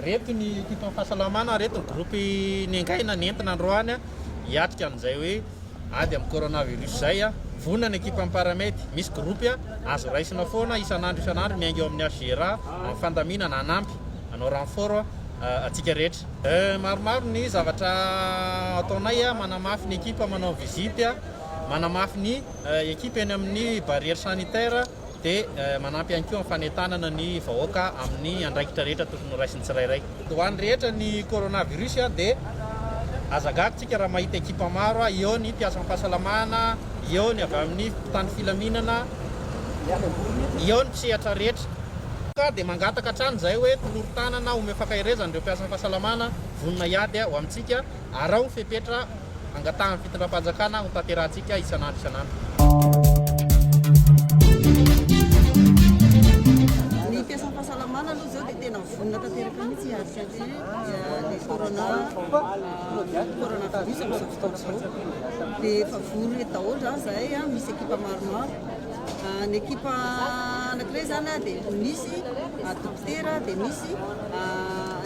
Reto ny ekipan'ny fahasalamana, reto ny gropy nengaina, nentina androany hiatrika an'izay hoe ady amin'ny coronavirus izay. Vonona ny ekipan'ny Paramed, misy gropy azo raisina foana isan'andro isan'andro miainga eo amin'ny HGRA amin'ny fandaminana hanampy hanao renfort antsika rehetra. Maromaro ny zavatra ataonay, manamafy ny ekipa, manao visite, manamafy ny. Ekipa eny amin'ny barrière sanitaire dia manampy ihany koa amin'ny fanentanana ny vahoaka amin'ny andraikitra rehetra tokony ho raisin'ny tsirairay. Ho an'ny rehetra ny coronavirus dia aza gaga isika raha mahita ekipa maro, eo ny mpiasan'ny fahasalamana, eo ny avy amin'ny mpitandro filaminana, eo ny mpisehatra rehetra. Ka dia mangataka hatrany izahay hoe tolory tanana, omeo fankaherezana ireo mpiasan'ny fahasalamana vonona hiady ho amintsika. Araho ny fepetra angatahan'ny fitondram-panjakana ho tanterahantsika isan'andro isan'andro. Ny fiasam-pahasalamana aloha izao dia tena vonona tanteraka mihitsy hiady satria ny corona coronavirus amin'izao fotoana izao dia efa vory eto daholo izany izahay a, misy ekipa maromaro. Ny ekipa anankiray izany a dia misy dokotera dia misy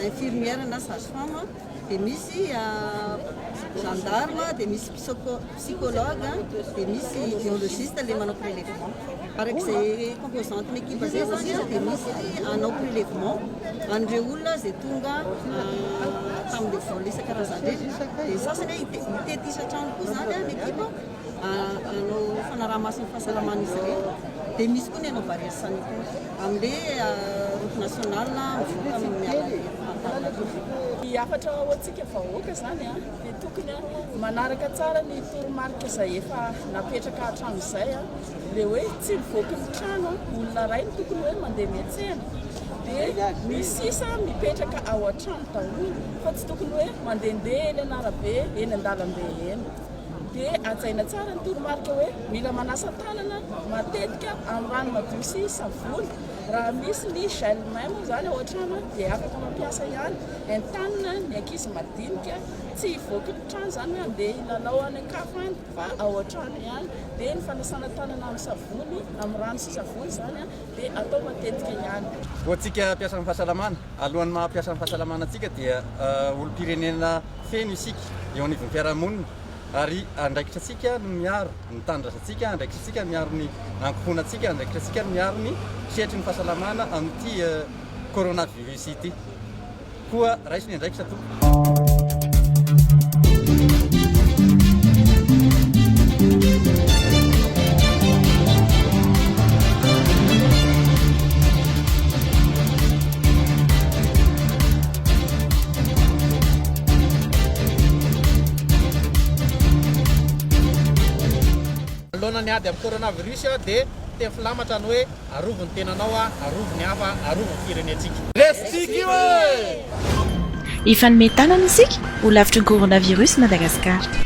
infirmière na sage femme. dia misy gendarme, dia misy psychologue, dia misy biologiste ilay manao prélèvement. Araka izay composante ny équipe izay izany dia misy hanao prélèvement an'ireo olona izay tonga tamin'ireo vol isan-karazany ireny. Dia ny sasany hitety isan-trano koa izany ny équipe hanao fanaraha-maso ny fahasalaman'izy ireny. Dia misy koa ny hanao barrière sanitaire. Amle route nationale mivoaka amin'ny alalan'ny Antananarivo. Ny hafatra ho antsika vahoaka izany dia tokony manaraka tsara ny toromarika izay efa napetraka hatramin'izay. Ilay hoe tsy mivoaky ny trano olona iray no tokony hoe mandeha miantsena. Dia ny sisa mipetraka ao an-trano daholo fa tsy tokony hoe mandehandeha eny an'arabe, eny an-dalambe eny. dia hajaina tsara ny toromarika hoe mila manasa tanana matetika amin'ny rano madio sy savony. Raha misy ny gel main moa izany ao an-trano dia afaka mampiasa ihany. Entanina ny ankizy madinika, tsy hivoaka ny trano izany hoe handeha hilalao any an-kafa any fa ao an-trano ihany. Dia ny fanasana tanana amin'ny savony, amin'ny rano sy savony izany dia atao matetika ihany. Koa antsika mpiasan'ny fahasalamana, alohan'ny maha mpiasan'ny fahasalamana antsika dia olom-pirenena. Feno isika eo anivon'ny fiarahamonina ary andraikitratsika ny miaro ny tanindrazantsika, andraikitratsika ny miaro ny ankohonantsika, andraikitratsika ny miaro ny sehatry ny fahasalamana amin'ity coronavirus ity. Koa raiso ny andraikitra tompoko. Manoloana ny ady amin'ny coronavirus dia teny filamatra ny hoe arovy ny tenanao, arovy ny hafa, arovy ny firenentsika. Hifanome tanana isika ho lavitry ny coronavirus Madagasikara.